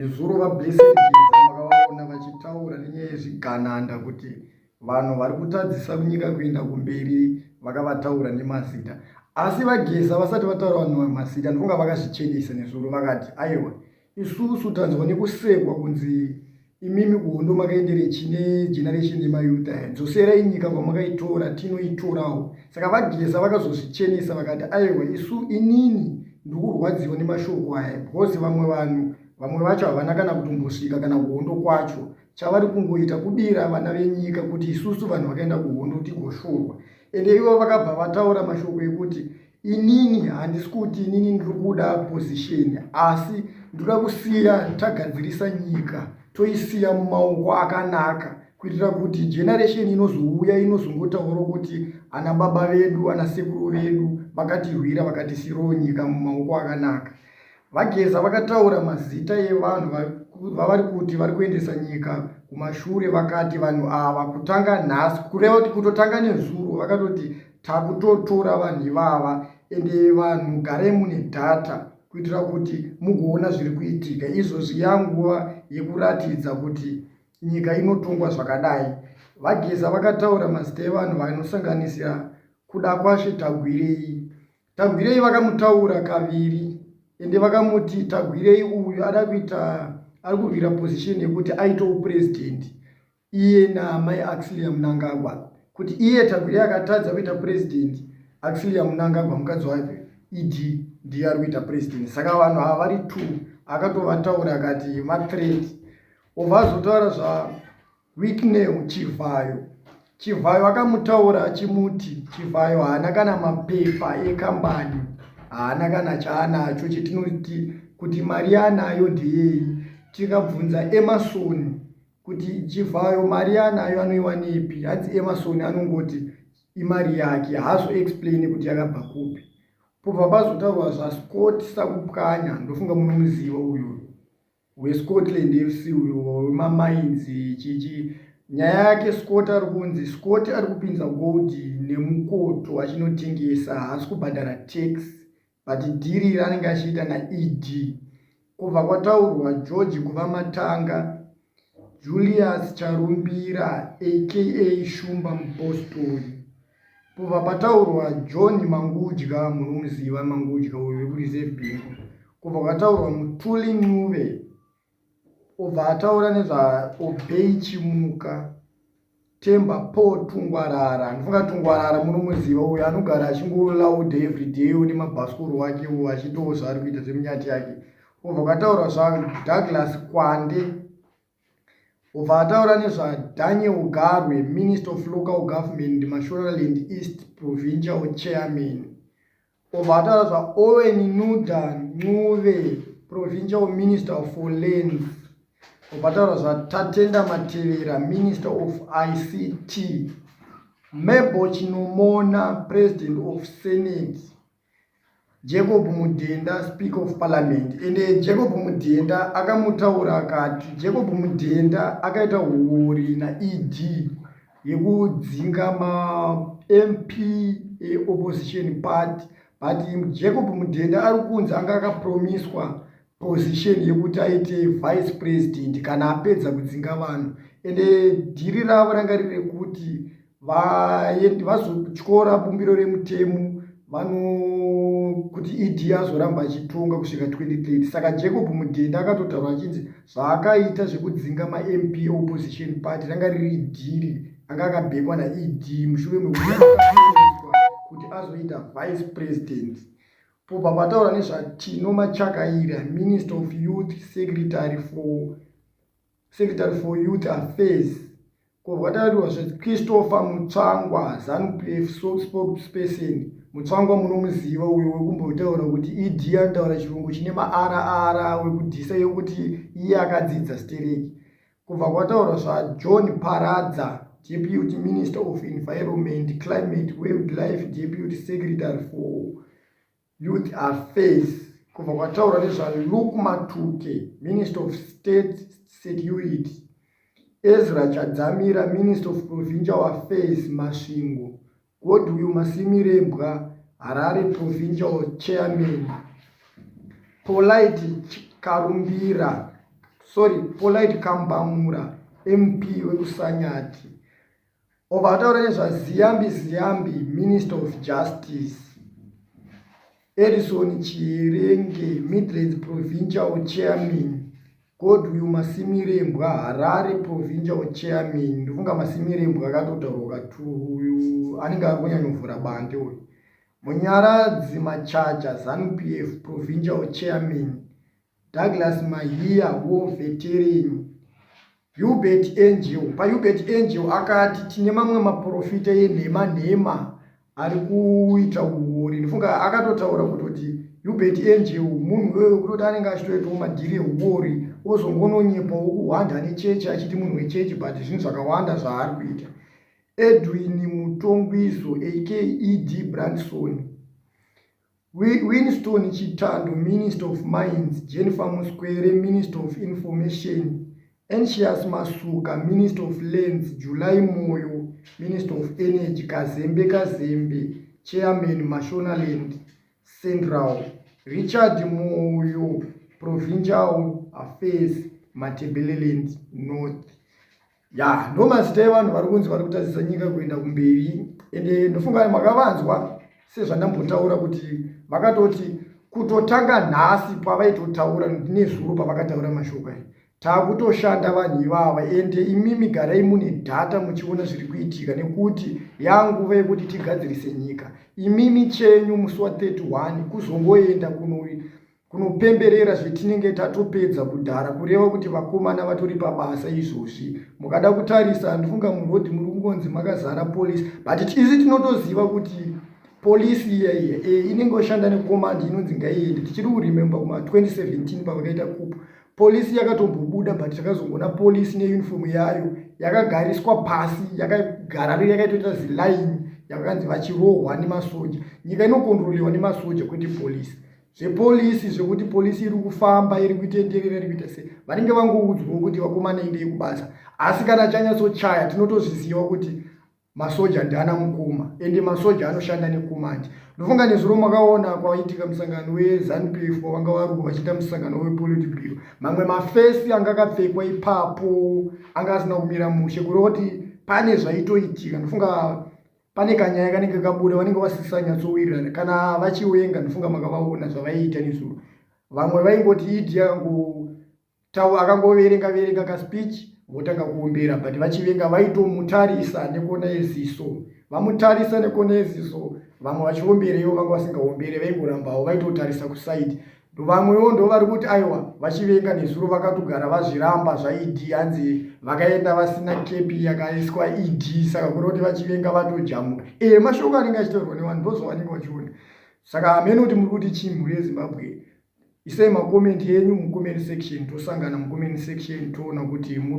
Nezuro vaBlessed Geza makavaona vachitaura nenyaya yezvigananda kuti vanhu vari kutadzisa kunyika kuenda kumberi vakavataura nemazita asi vageza vasati vataura vanhu mazita ndikunga vakazvichenesa nezuro vakati aiwa isusu tanzwa nekusekwa kunzi imimi kuhondo makaendere chine generation yemayuta ya dzoserai nyika kwamakaitora tinoitorawo saka vageza vakazozvichenesa vakati aiwa isu inini Ndikurwadziwa nemashoko aya because vamwe vanhu vamwe vacho havana kana kutombosvika kana kuhondo kwacho chavari kungoita kudira vana venyika kuti isusu vanhu vakaenda kuhondo tigoshurwa ende ivo vakabva vataura mashoko ekuti inini handisi kuti inini ndiri kuda position asi ndoda kusiya tagadzirisa nyika toisiya mumaoko akanaka kuitira kuti generation inozouya inozongotaura kuti ana baba vedu ana sekuru vedu vakatirwira vakatisirowo nyika mumaoko akanaka vageza vakataura mazita evanhu vavari kuti vari kuendesa nyika kumashure vakati vanhu ava kutanga nhasi kureva kuti kutotanga nezuro vakatoti takutotora vanhu ivava ende vanhu garai mune data kuitira kuti mugoona zviri kuitika izvozvi yanguva yekuratidza kuti nyika inotongwa zvakadai vageza vakataura mazita evanhu vanosanganisira kuda kwashe tagwirei tagwirei vakamutaura kaviri ende vakamuti tagwirei uyu ada kuita ari kurwira position yekuti aite upresident iye naamai axilia munangagwa kuti iye tagwirei akatadza kuita president axilia munangagwa mukadzi wake ed ndiye ari kuita president saka vanhu ava vari two akatovataura akati mathreat obva azotaura zvawicknel chivhayo chivhayo akamutaura achimuti chivhayo haana kana mapepa ekambani haana kana chaanacho chetinoti kuti mari yaanayo ndeyei tikabvunza emasoni kuti chivhayo mari yaanayo anoiwanepi hanzi emasoni anongoti imari yake haazo explaine kuti yakabva kupi pobva pazotaurwa zvascot sakupwanya ndofunga munomuziva uyoyo weScotland FC uyo wemamines chichi nyaya yake Scott ari kunzi Scott ari kupinza gold nemukoto achinotengesa haasi kubhadhara tax but dhiri raanenge achiita naED kubva kwataurwa George kuva matanga Julius Charumbira aka Shumba Mupostori Pobva pataurwa John Mangudya, munomuziva Mangudya uyu wekuReserve Bank. Kobva kwataurwa Mutuli Ncube, obva ataura nezvaObey Chimuka. Temba Paul Tungwarara, ndinofunga Tungwarara munomuziva uyu anogara achingolauda everyday une mabhasikoro wake uwo achitawo zvaari kuita zvemunyati yake. Kobva kwataurwa zvaDouglas Kwande. Obva ataura nezvaDaniel Garwe, Minister of Local Government, Mashonaland East Provincial Chairman. Obva ataura zvaOwen Nuda Ncube, Provincial Minister of Lands. Obva ataura zvaTatenda Matevera, Minister of ICT. Mabel Chinomona, President of Senate. Jacob Mudenda speak of parliament ende Jacob Mudenda akamutaura akati Jacob Mudenda akaita huori naED yekudzinga maMP eopposition party but Jacob Mudenda ari kunzi anga akapromiswa position yekuti aite vice president kana apedza kudzinga vanhu ende dhiri ravo ranga riri rekuti vazotyora bumbiro remutemo vano kuti ed azoramba achitonga kusvika 2030 saka jacob mudhenda akatotaura achinzi zvaakaita zvekudzinga mamp opposition party ranga riri dhiri anga akabhekwa naed mushure mekuti azoita vice president pobva pataura nezvatino machakaira minister of youth secretary for, secretary for youth affairs kobva taurwa zvechristopher mutsvangwa zanupf spokesperson mutsvangwa munomuziva uyo wekumbotaura kuti ed anotaura chirungu chine maara ara wekudhisa yokuti iye akadzidza stereki Kubva kwataura zvaJohn Paradza, Deputy Minister of Environment, Climate, Wildlife, Deputy Secretary for Youth Affairs, kubva kwataura nezvaLuke Matuke, Minister of State Security, Ezra Chadzamira, Minister of Provincial Affairs, Masvingo, Kod uyu Masimirembwa Harare Provincial Chairman Polite Karumbira sorry Polite Kambamura MP wekusanyati obva ataura nezvaziyambi ziyambi Minister of Justice Edison Chirenge, Midlands Provincial Chairman, Godwill Masimirembwa, Harare Provincial Chairman. Ndofunga Masimirembwa akatotaurwa kati uyu anenge ari kunyanyovhura bande uyu. Munyaradzi Machacha, ZANU PF Provincial Chairman, Douglas Mahiya war veteran Hubert Angel paHubert Angel akati tine mamwe maprofita enhema nhema ari kuita uori ndifunga akatotaura kutoti Hubert Angel munhu uyoyo kutoti anenge achitoitawo madhiri euori ozongononyepawo kuhwanda nechechi achiti munhu wechechi but zvinhu zvakawanda zvaari kuita Edwin Mutongwizo aka ED Branson Winston Chitando, Minister of Mines, Jennifer Muskwere, Minister of Information, Anxious Masuka, Minister of Lands, July Moyo, Minister of Energy, Kazembe Kazembe, Chairman, Mashonaland Central, Richard Moyo, Provincial Affairs, Matebeleland North. ya ndo mazita evanhu vari kunzi vari kutadzisa nyika kuenda kumberi ende ndofunga makavanzwa sezvandambotaura kuti vakatoti kutotanga nhasi pavaitotaura nezuro pavakataura mashoko aya taakutoshanda vanhu ivava ende imimi garai mune dhata muchiona zviri kuitika nekuti yanguva yekuti tigadzirise nyika imimi chenyu musi wa 31 kuzongoenda kuno kunopemberera zvetinenge tatopedza kudhara kureva kuti vakomana vatori pabasa izvozvi mukada kutarisa handifunga muroad muri kungonzi makazara police but tizi tinotoziva kuti police iya iya e, inenge oshanda nekomandi inonzi ngaiende tichiri kurememba kuma 2017 pavakaita kup polisi yakatombobuda but takazongoona polisi neuniform yayo yakagariswa pasi yakagara yakaitoita zilaini yakakanzi vachirohwa nemasoja nyika inokontrolewa nemasoja kwete polisi zvepolisi zvekuti polisi iri kufamba iri kuitenderera iri kuita sei vanenge vangoudzwawo kuti vakomana endei kubasa asi kana chanyatsochaya tinotozviziva kuti masoja ndiana mukuma ende masoja anoshanda nekumandi ndofunga nezuro makaona kwaitika musangano wezanu p f vanga varuwa vachiita musangano wepolitibiro mamwe mafesi anga akapfekwa ipapo anga asina kumira mushe kureva kuti pane zvaitoitika ndofunga pane kanyaya kanenge kabuda vanenge vasisanyatsowirirana kana vachiwenga ndofunga makavaona zvavaiita nezuro vamwe vaingoti idi akangotaura akangoverenga verenga kaspeech votanga kuombera but vachivenga vaitomutarisa nekona yeziso vamutarisa nekona yeziso vamwe vachiombera ivo vanga vasingaombere vaingorambawo vaitotarisa kuside vamwewo ndo vari kuti aiwa vachivenga nezuro vakatogara vazviramba zvaed hanzi vakaenda vasina kepi yakaiswa ed saka kuri kuti vachivenga vatojamuka ee mashoko anenge achitaurwa nevanhu ndozvavanenge vachiona saka hamene kuti muri kuti chii mhuri yezimbabwe isai makomenti enyu mucomment section tosangana mucomment section toona kuti muri